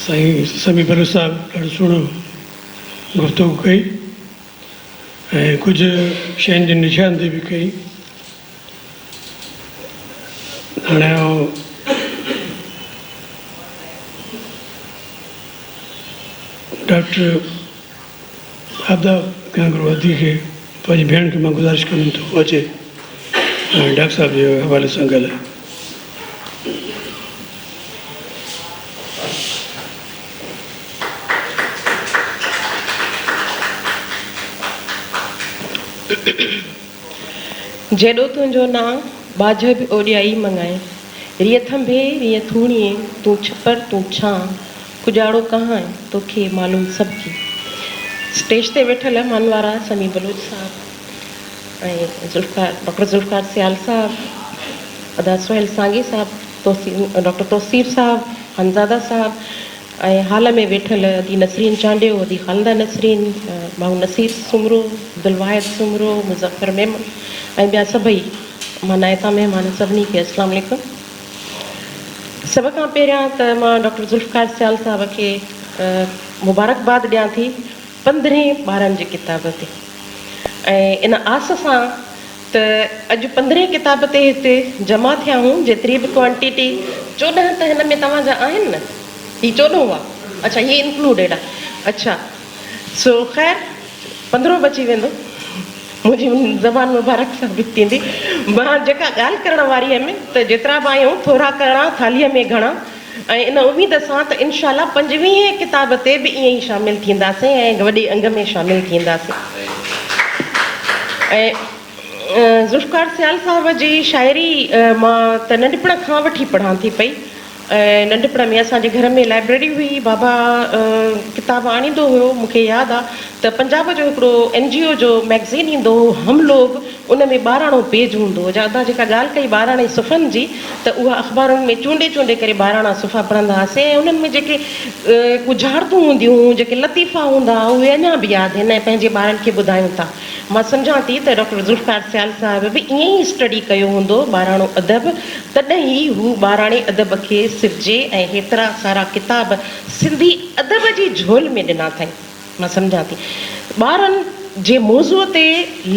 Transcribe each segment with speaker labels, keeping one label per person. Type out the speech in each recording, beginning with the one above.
Speaker 1: سائين سمي بلوچ صاحب ڏاڍو سهڻو گفتگو ڪئي ۽ ڪجهه شين جي نشان دي به ڪئي هاڻي ڊاڪٽر ادا ڪرڻ گهرو ادي کي پنهنجي ڀيڻ کي مان گذارش ڪندم ته هو اچي ۽ ڊاڪٽر صاحب جي حوالي سان ڳالهائي.
Speaker 2: جيڏو تنهنجو نانء ٻاجهه به اوڏيائي مڱائي. ريء ٿنڀي ريء ٿوڻيي تون ڇپر تون ڇانء ڪڄاڙو ڪهان آهي توکي معلوم سڀ ڪي. اسٽيج تي ويٺل مهمان وارا سميع بلوچ صاحب ۽ ڊاڪٽر ذوالفقار سيال صاحب، ادا سهيل سانگي صاحب، ڊاڪٽر توصيف صاحب، خانزاده صاحب ۽ هال ۾ ويٺل ادي نسرين چانڊيو، ادي خالده نسرين، ڀائو نصير سومرو، عبدالواحد سومرو، مظفر ميمڻ ۽ ٻيا سڀئي مهمان ائتان مهمان سڀني کي اسلام عليڪم. سڀ کان پهريان ته مان ڊاڪٽر ذوالفقار سيال صاحب کي مبارڪباد ڏيان ٿي پندرهين ٻارن جي ڪتاب تي ۽ ان آس سان ته اڄ پندرهين ڪتاب تي هتي جمع ٿيا آهون جيتري به ڪوانٽيٽي چوڏهن ته هن ۾ توهان جا آهن نه هي چوڏهون آ اڇا هي انڪلوڊيڊ آ اڇا سو خير پندرهون بچي ويندو منهنجي ان زبان مبارڪ ثابت ٿيندي مان جيڪا ڳالهه ڪرڻ واري هيم ته جيترا به آيون ٿورا ڪرڻا ٿالهيء ۾ گهڻا ۽ ان اميد سان ته انشاء الله پنجويهين ڪتاب تي به ائين ئي شامل ٿينداسين ۽ وڏي انگ ۾ شامل ٿينداسين ۽ ذوالفقار سيال صاحب جي شاعري مان ته ننڍپڻ کان وٺي پڙهان ٿي پئي ننڍپڻ ۾ اسان جي گهر ۾ لائبريري هئي، بابا ڪتاب آڻيندو هيو، مون کي ياد آ ته پنجاب جو هڪڙو اين جي او جو مئگزين ايندو هو هم لوگ، ان ۾ ٻاراڻو پيج هوندو هو، جا جيڪا ڳالهه ڪئي ٻاراڻي صفحن جي ته اها اخبارن ۾ چونڊي چونڊي ڪري ٻاراڻا صفحا پڙهندا هئاسين ۽ انهن ۾ جيڪي ڳجهارتون هونديون هيون، جيڪي لطيفا هوندا هئا اهي اڃا به ياد آهن ۽ پنهنجي ٻارن کي ٻڌايون ٿا. مان سمجهان ٿي ته ڊاڪٽر ذوالفقار سيال صاحب به ائين ئي اسٽڊي ڪيو هوندو ٻاراڻو ادب، تڏهن ئي هو ٻاراڻي ادب کي سرجي ۽ هيترا سارا ڪتاب سنڌي ادب جي جهول ۾ ڏنا اٿائين. مان سمجهان ٿي ٻارن جي موضوع تي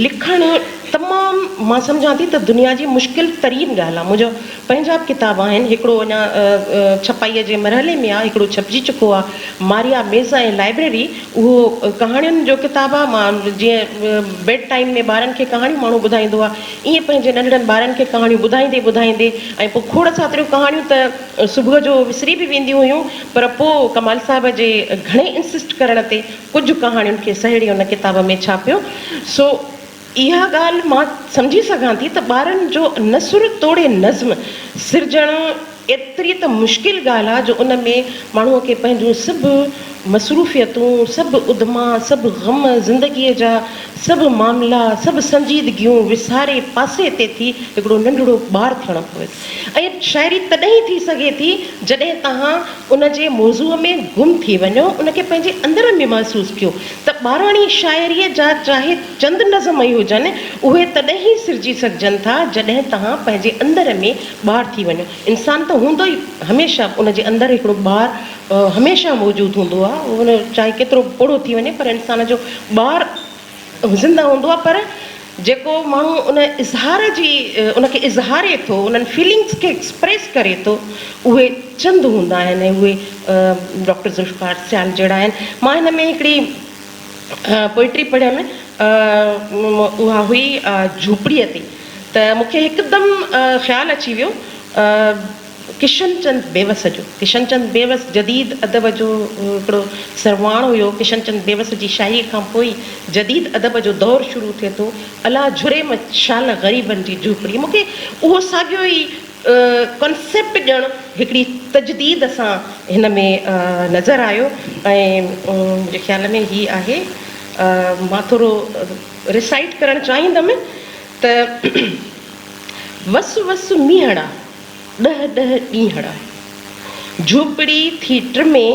Speaker 2: لکڻ تمام مان سمجهان ٿي ته دنيا جي مشڪل ترين ڳالهه آهي. منهنجو پنهنجا به ڪتاب آهن، هڪڙو اڃا ڇپائيء جي مرحلي ۾ آ، هڪڙو ڇپجي چڪو آ، ماريا ميز ۽ لائبريري، اهو ڪهاڻين جو ڪتاب آ، مان جيئن بيڊ ٽائيم ۾ ٻارن کي ڪهاڻيون ماڻهو ٻڌائيندو آ، ايئن پنهنجي ننڍڙن ٻارن کي ڪهاڻيون ٻڌائيندي ٻڌائيندي ۽ پوء کوڙ ساتريون ڪهاڻيون ته صبح جو وسري به وينديون هيون، پر پوء ڪمال صاحب جي گهڻي انسسٽ ڪرڻ تي ڪجهه ڪهاڻين کي سهيڙي ان ڪتاب ۾ ڇاپيو، سو. اها ڳالهه مان سمجهي سگهان ٿي ته ٻارن جو نثر توڙي نظم سرجڻ ايتري ته مشڪل ڳالهه آ جو ان ۾ ماڻهوء کي پنهنجون سڀ مصروفيتون، سڀ ادما، سڀ غم، زندگيء جا سڀ معاملا، سڀ سنجيدگيون وساري پاسي تي ٿي هڪڙو ننڍڙو ٻار ٿيڻو پوي ٿو ۽ شاعري تڏهن ئي ٿي سگهي ٿي جڏهن توهان ان جي موضوع ۾ گم ٿي وڃو، ان کي پنهنجي اندر ۾ محسوس ڪيو ته ٻاراڻي شاعريء جا چاهي چند نظم ئي هجن، اهي تڏهن ئي سرجي سگهجن ٿا، جڏهن توهان پنهنجي اندر ۾ ٻار ٿي وڃو. انسان ته هوندو ئي هميشه ان جي اندر هڪڙو ٻار هميشه موجود هوندو آهي، اهو چاهي ڪيترو به پوڙهو ٿي وڃي پر انسان جو ٻار. زنده هوندو آهي پر جيڪو ماڻهو ان اظهار جي ان کي اظهاري ٿو انهن فيلنگس کي ايڪسپريس ڪري ٿو اهي چند هوندا آهن ۽ اهي ڊاڪٽر ذوالفقار سيال جهڙا آهن مان هن ۾ هڪڙي پوئٽري پڙهيم اها هئي جهوپڙيء تي ته مون کي هڪدم خيال اچي ويو ڪشن چند بيوس جو ڪشن چند بيوس جديد ادب جو هڪڙو سرواڻ هيو. ڪشن چند بيوس جي شاعريء کان پوء ئي جديد ادب جو دور شروع ٿئي ٿو. الا جھري م شال غريبن جي جهوپڙي مون کي اهو ساڳيو ئي ڪانسيپٽ ڄڻ هڪڙي تجديد سان هن ۾ نظر آيو ۽ منهنجي خيال ۾ هي آهي مان ٿورو ريسائيٽ ڪرڻ چاهيندم ته وس وس مينهڙا. ڏهه ڏهه ڏينهڙ جهوپڙي ٿي ٽمي،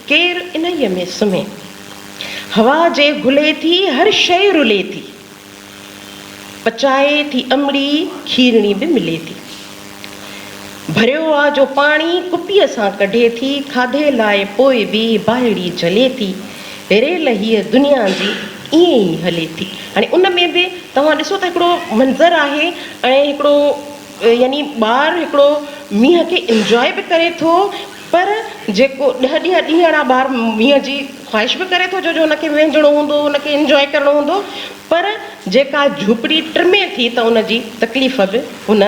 Speaker 2: ڪير انهيء ۾ سمهي؟ هوا جي گهلي ٿي هر شيء رلي ٿي، پچائي ٿي امڙي کيرڻي به ملي ٿي. ڀريو آ جو پاڻي ڪپيء سان ڪڍي ٿي، کاڌي لاء پوء به باهيڙي جهلي ٿي. ريل هيء دنيا جي ائين ئي هلي ٿي. هاڻي ان ۾ به توهان ڏسو ته هڪڙو منظر آهي ۽ هڪڙو. يعني ٻار هڪڙو مينهن کي انجوائي به ڪري ٿو پر جيڪو ڏهه ڏينهن ڏينهن اڙا ٻار مينهن جي خواهش به ڪري ٿو جو جو ان کي وهنجڻو هوندو ان کي انجوائي ڪرڻو هوندو پر جيڪا جهوپڙي ٽمي ٿي ته ان جي تڪليف به هن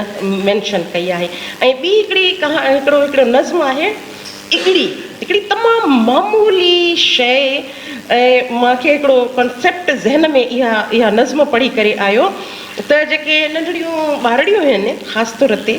Speaker 2: مينشن ڪئي آهي ۽ ٻي هڪڙي ڪها هڪڙو هڪڙو نظم آهي اکڙي هڪڙي تمام معمولي شيء ۽ مانکي هڪڙو ڪانسيپٽ ذهن ۾ اها اها نظم پڙهي ڪري آيو ته جيڪي ننڍڙيون ٻارڙيون آهن خاص طور تي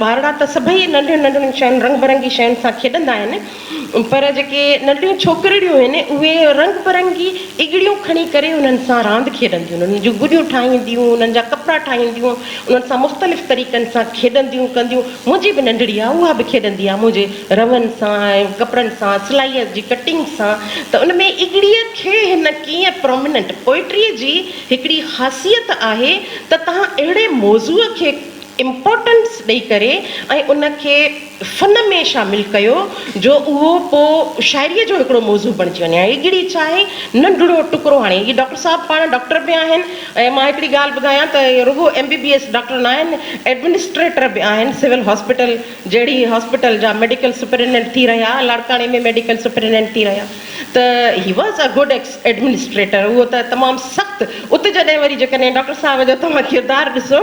Speaker 2: ٻارڙا ته سڀئي ننڍين ننڍڙين شين رنگ برنگي شين سان کيڏندا آهن پر جيڪي ننڍڙيون ڇوڪرڙيون آهن اهي رنگ برنگي اڳڙيون کڻي ڪري انهن سان راند کيڏنديون آهن انهن جون گڏيون ٺاهينديون انهن جا ڪپڙا ٺاهينديون انهن سان مختلف طريقن سان کيڏنديون ڪنديون منهنجي به ننڍڙي آهي اها به کيڏندي آهي منهنجي رون سان ۽ ڪپڙن سان سلائيء جي ڪٽنگ سان ته ان ۾ اڳڙيء کي هن ڪيئن پروميننٽ پوئٽريء جي هڪڙي خاصيت آهي ته توهان اهڙي موضوع کي امپورٽنس ڏئي ڪري ۽ ان کي فن ۾ شامل ڪيو جو اهو پو شاعريء جو هڪڙو موضوع بڻجي وڃي. هڪڙي ڇا آهي ننڍڙو ٽڪرو هاڻي هي ڊاڪٽر صاحب پاڻ ڊاڪٽر به آهن ۽ مان هڪڙي ڳالهه ٻڌايان ته رڳو M B B S doctor ناهن ايڊمنسٽريٽر به آهن سول هاسپيٽل جهڙي هاسپيٽل جا ميڊيڪل سپرينڊنٽ ٿي رهيا لاڙڪاڻي ۾ ميڊيڪل سپرينڊنٽ ٿي رهيا ته he was a good ex administrator هو ته تمام سخت ات جڏهن وري جيڪڏهن ڊاڪٽر صاحب جو توهان ڪردار ڏسو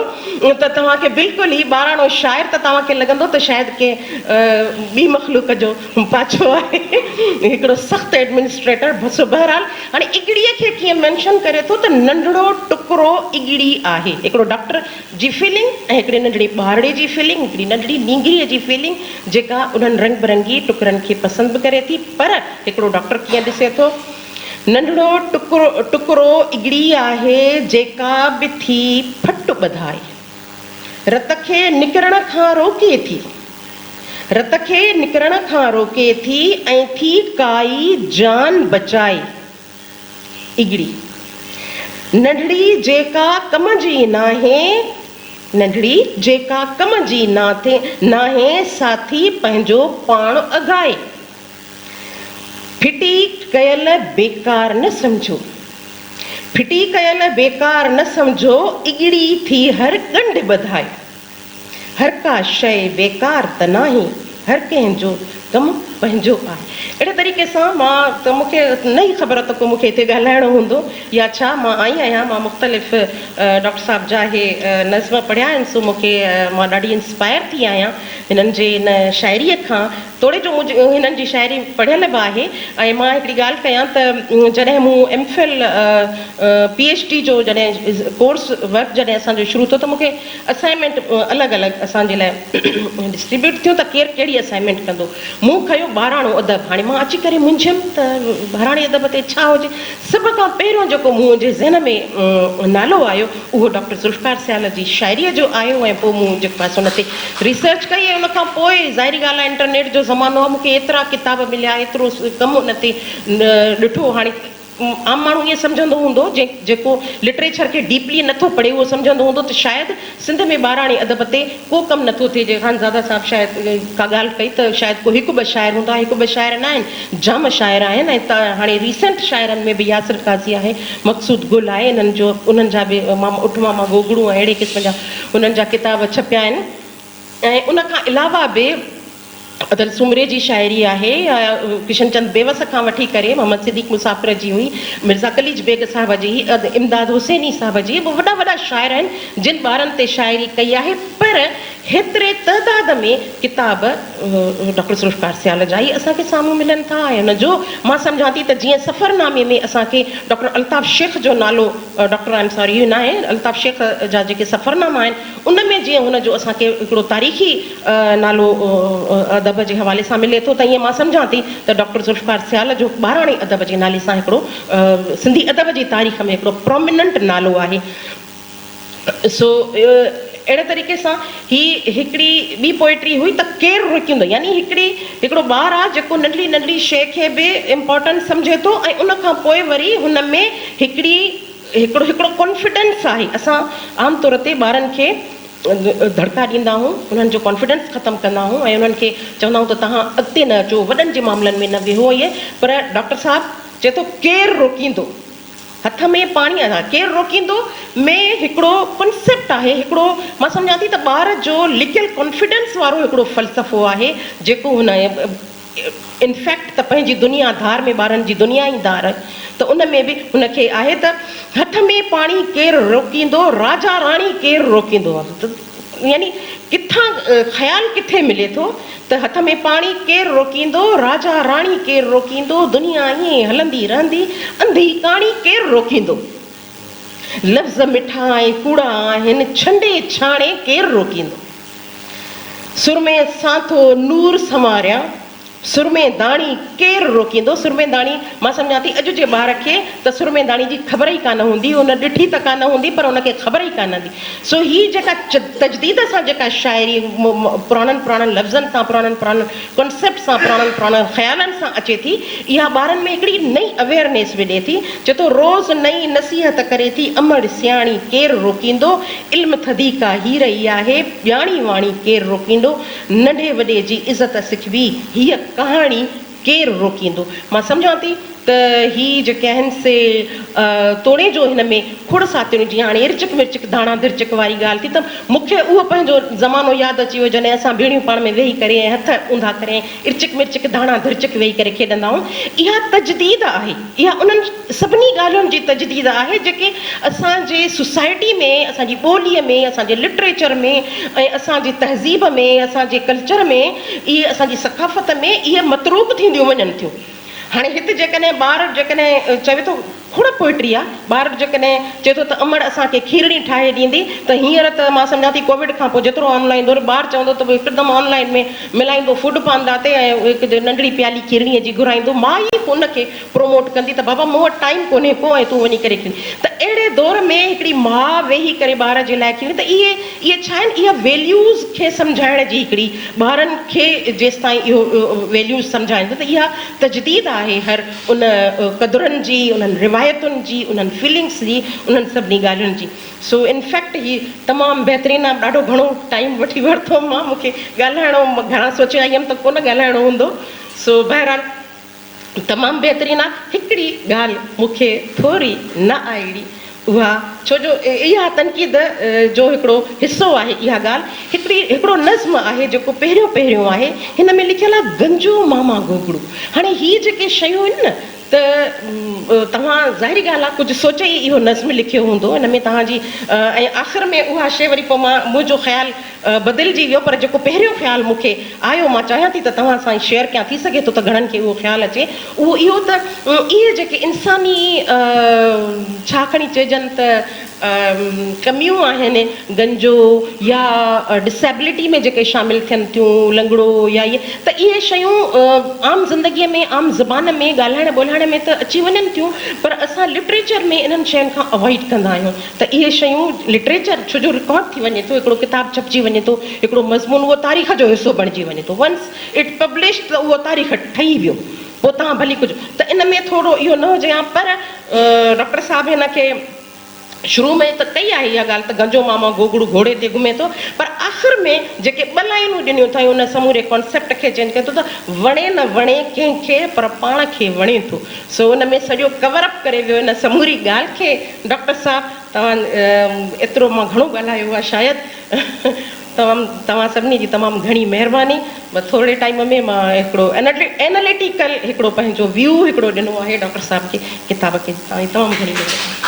Speaker 2: ته توهان کي بلڪل هي ٻاراڻو شاعر ته توهان کي لڳندو ته شايد ڪنهن ٻي مخلوق جو پاڇو آهي هڪڙو سخت ايڊمنسٽريٽر سو بهرحال هاڻي اڳڙي کي ڪيئن مينشن ڪري ٿو ته ننڍڙو ٽڪرو اڳڙي آهي هڪڙو ڊاڪٽر جي فيلنگ ۽ هڪڙي ننڍڙي ٻارڙي جي فيلنگ، هڪڙي ننڍڙي نينگريء جي فيلنگ جيڪا انهن رنگ برنگي ٽڪرن کي پسند به ڪري ٿي پر هڪڙو ڊاڪٽر ڪيئن ڏسي ٿو. ننڍڙو ٽڪرو اڳڙي آهي جيڪا به ٿي ڦٽ ٻڌائي رت کي نڪرڻ کان روڪي ٿي. رت کي نڪرڻ کان روڪي ٿي ۽ ٿي ڪائي جان بچائي. اگڙي ننڍڙي جيڪا ڪم جي ناهي ننڍڙي جيڪا ڪم جي ناهي ساٿي پنهنجو پاڻ اگهائي ڦٽي ڪيل بيڪار نه سمجهو ڦٽي ڪيل بيڪار نه سمجهو اگڙي ٿي هر ڳنڍ ٻڌائي. هر ڪا شيء بيڪار ته ناهي، هر ڪنهن جو ڪم پنهنجو آهي. اهڙي طريقي سان مان ته مون کي نه ئي خبر ته ڪو مون کي هتي ڳالهائڻو هوندو يا ڇا. مان آئي آهيان، مان مختلف ڊاڪٽر صاحب جا اهي نظم پڙهيا آهن سو مون کي مان ڏاڍي انسپائر ٿي آهيان هنن جي ان شاعريء کان توڙي جو مون هنن جي شاعري پڙهيل به آهي ۽ مان هڪڙي ڳالهه ڪيان ته جڏهن مون M Phil, P H D جو جڏهن ڪورس ورڪ جڏهن اسان جو شروع ٿيو ته مون کي اسائنمينٽ الڳ الڳ اسان جي لاء ڊسٽريبيوٽ ٿيون ته ڪير ڪهڙي اسائنمينٽ ڪندو. مون کنيو ٻاراڻو ادب. هاڻي مان اچي ڪري منجهيم ته ٻاراڻي ادب تي ڇا هجي. سڀ کان پهريون جيڪو منهنجي ذهن ۾ نالو آيو اهو ڊاڪٽر ذوالفقار سيال جي شاعريء جو آيو ۽ پوء مون جيڪو آهي سو ان تي ريسرچ ڪئي ۽ ان کان پوء ظاهري ڳالهه آهي انٽرنيٽ جو زمانو آهي مون کي ايترا ڪتاب مليا ايترو ڪم ان تي ڏٺو هاڻي عام ماڻهو ائين سمجهندو هوندو جيڪو لٽريچر کي ڊيپلي نه ٿو پڙهي اهو سمجهندو هوندو ته شايد سنڌ ۾ ٻاراڻي ادب تي ڪو ڪم نه ٿو ٿئي جيئن خانزاده صاحب شايد ڪا ڳالهه ڪئي ته شايد ڪو هڪ ٻه شاعر هوندا هڪ ٻه شاعر نه آهن جام شاعر آهن ۽ هاڻي ريسنٽ شاعرن ۾ به ياسر قاضي آهي مقصود گل آهي انهن جو انهن جا به ماما اٺ ماما گوگڙو ۽ اهڙي قسم جا انهن جا ڪتاب ڇپيا آهن ۽ ان کان علاوه به ادل سومري جي شاعري آهي. ڪشن چند بيوس کان وٺي ڪري محمد صديق مسافر جي هئي، مرزا قليچ بيگ صاحب جي، امداد حسيني صاحب جي، اهي وڏا وڏا شاعر آهن، جن ٻارن تي شاعري ڪئي آهي، پر هيتري تعداد ۾ ڪتاب ڊاڪٽر ذوالفقار سيال جا ئي اسان کي سامهون ملن ٿا ۽ ان جو مان سمجهان ٿي ته جيئن سفرنامي ۾ اسان کي ڊاڪٽر الطاف شيخ جو نالو ڊاڪٽر آئي ايم ساري اهو ناهي، الطاف شيخ جا جيڪي سفرناما آهن، ان ۾ جيئن هن جو اسان کي هڪڙو تاريخي نالو ادب جي حوالي سان ملي ٿو ته ائين مان سمجهان ٿي ته ڊاڪٽر ذوالفقار سيال جو ٻاراڻي ادب جي نالي سان هڪڙو سنڌي ادب جي تاريخ ۾ هڪڙو پراميننٽ نالو آهي سو اهڙي طريقي سان هي هڪڙي ٻي پوئٽري هئي ته ڪير روڪيندو يعني هڪڙي هڪڙو ٻار آهي جيڪو ننڍڙي ننڍڙي شيء کي به امپارٽنٽ سمجهي ٿو ۽ ان کان پوء وري هن ۾ هڪڙي هڪڙو هڪڙو ڪانفيڊنس آهي اسان عام طور تي ٻارن کي ڌڙڪا ڏيندا آهون انهن جو ڪانفيڊنس ختم ڪندا آهون ۽ انهن کي چوندا آهون ته توهان اڳتي نه اچو وڏن جي معاملن ۾ نه ويهو ائين پر ڊاڪٽر صاحب چئي ٿو ڪير روڪيندو هٿ ۾ پاڻي اها ڪير روڪيندو ۾ هڪڙو ڪانسيپٽ آهي هڪڙو مان سمجهان ٿي ته ٻار جو لڪيل ڪانفيڊنس وارو هڪڙو فلسفو آهي جيڪو هن ان فيڪٽ ته پنهنجي دنيا ڌار ۾ ٻارن جي دنيا ئي ڌار ته ان ۾ به هن کي آهي ته هٺ ۾ پاڻي ڪير روڪيندو راجا راڻي ڪير روڪيندو يعني ڪٿان خيال ڪٿي ملي ٿو ته هٿ ۾ پاڻي ڪير روڪيندو راجا راڻي ڪير روڪيندو دنيا ائين ئي هلندي رهندي انڌي ڪاڻي ڪير روڪيندو. لفظ مٺا ۽ ڪوڙا آهن، ڇنڊي ڇاڻي ڪير روڪيندو. سرمي سان ٿو نور سنواريان، سرمي داڻي ڪير روڪيندو. سرمي داڻي، مان سمجهان ٿي اڄ جي ٻار کي ته سرمي داڻي جي خبر ئي ڪانه هوندي، هن ڏٺي ته ڪانه هوندي پر هن کي خبر ئي ڪانه هوندي. سو هي جيڪا تجديد سان جيڪا شاعري پراڻن پراڻن لفظن تان، پراڻن پراڻن ڪنسيپٽ سان پراڻن پراڻن خيالن سان اچي ٿي اها ٻارن ۾ هڪڙي نئين اويئرنيس وڏي ٿي چي تو روز نئين نصيحت ڪري ٿي امڙ سياڻي ڪير روڪيندو علم ٿڌي ڪا هير ئي آهي ڄاڻي واڻي ڪير روڪيندو ننڍي وڏي جي عزت سکبي هيء ڪهاڻي ڪير روڪيندو مان سمجهان ٿي ته هي جيڪي آهن سي توڻي جو هن ۾ کوڙ ساتيون جيئن هاڻي ارچڪ مرچڪ ڌاڻا درچڪ واري ڳالهه ٿي ته مونکي اهو پنهنجو زمانو ياد اچي ويو جڏهن اسان ڀيڻيون پاڻ ۾ ويهي ڪري ۽ هٿ اونڌا ڪري ۽ ارچڪ مرچڪ ڌاڻا درچڪ ويهي ڪري کيڏندا هئون اها تجديد آهي اها انهن سڀني ڳالهين جي تجديد آهي جيڪي اسان جي سوسائٽي ۾ اسان جي ٻولي ۾ اسان جي لٽريچر ۾ ۽ اسان جي تهذيب ۾ اسان جي ڪلچر ۾ اهي اسان جي ثقافت ۾ اهي متروڪ ٿينديون وڃن ٿيون. هاڻي هت جيڪڏهن ٻار جيڪڏهن چوي ٿو کوڙ پوئٽري آ ٻار جيڪڏهن چوي ٿو ته امڙ اسان کي کيرڙي ٺاهي ڏيندي ته هينئر ته مان سمجهان ٿي ڪووڊ کان پوء جيترو آن لائين دور ٻار چوندو ته هڪدم آن لائين ۾ ملائيندو فوڊ پانڊا تي ۽ هڪ ننڍڙي پيالي کيرڙي جي گهرائيندو ماء ئي ان کي پروموٽ ڪندي ته بابا مون وٽ ٽائيم ڪونهي ڪو ۽ تون وڃي ڪري کيڙ ته اهڙي دور ۾ هڪڙي ماء ويهي ڪري ٻار جي لاء کيڙي ته اهي اهي ڇا آهن؟ اها ويليوز کي سمجهائڻ جي هڪڙي ٻارن کي جيستائين اهو ويليوز سمجهائيندا ته اها تجديد آهي هر ان قدرن جي، انهن روايتن جي، انهن فيلنگس جي، انهن سڀني ڳالهين جي. سو ان فيڪٽ هي تمام بهترين آهي. ڏاڍو گهڻو ٽائيم وٺي ورتو مان، مون کي ڳالهائڻو، مان گهڻا سوچي آئي هيم ته ڪونه ڳالهائڻو هوندو. سو بهرحال. تمام بهترين آ هڪڙي ڳالهه مون کي ٿوري نه آئڙي اها ڇو جو اها تنقيد جو هڪڙو حصو آهي اها ڳالهه هڪڙي هڪڙو نظم آهي جيڪو پهريون پهريون آهي هن ۾ لکيل آ گنجو ماما گوگڙو هاڻي هي جيڪي شيون آهن نه ته توهان ظاهري ڳالهه آ ڪجهه سوچي ئي اهو نظم لکيو هوندو هن ۾ توهان جي ۽ آخر ۾ اها شي وري پوء مان منهنجو خيال بدلجي ويو پر جيڪو پهريون خيال مون کي آيو مان چاهيان ٿي ته توهان سان شيئر ڪيان ٿي سگهي ٿو ته گهڻن کي اهو خيال اچي اهو اهو ته اهي جيڪي انساني ڇا کڻي چئجن ته ڪميون آهن گنجو يا ڊسيبلٽي ۾ جيڪي شامل ٿين ٿيون لنگڙو يا اهي ته اهي شيون عام زندگي ۾ عام زبان ۾ ڳالهائڻ ٻولهائڻ ۾ ته اچي وڃن ٿيون پر اسان لٽريچر ۾ انهن شين کان اوائڊ ڪندا آهيون ته اهي شيون لٽريچر ڇو جو رڪارڊ ٿي وڃي ٿو، هڪڙو ڪتاب ڇپجي وڃي ٿو، هڪڙو مضمون اهو تاريخ جو حصو بڻجي وڃي ٿو Once it published ته اهو تاريخ ٺهي ويو پوء تهان ڀلي ڪجهه ته ان ۾ ٿورڙو اهو نه هجي ها پر ڊاڪٽر صاحب هن کي شروع ۾ ته ڪئي آهي اها ڳالهه ته گنجو ماما گوگڙو گهوڙي تي گهمي ٿو پر آخر ۾ جيڪي ٻه لائينون ڏنيون اٿائين ان سموري ڪانسيپٽ کي چينج ڪري ٿو ته وڻي نه وڻي ڪنهن کي پر پاڻ کي وڻي ٿو سو ان ۾ سڄو ڪور اپ ڪري ويو ان سموري ڳالهه کي ڊاڪٽر صاحب توهان ايترو مان گهڻو ڳالهايو آهي شايد تمام توهان سڀني جي تمام گهڻي مهرباني بس ٿورڙي ٽائيم ۾ مان هڪڙو ايناليٽيڪل هڪڙو پنهنجو ويو هڪڙو ڏنو آهي ڊاڪٽر صاحب جي ڪتاب کي توهان جي تمام گهڻي مهرباني.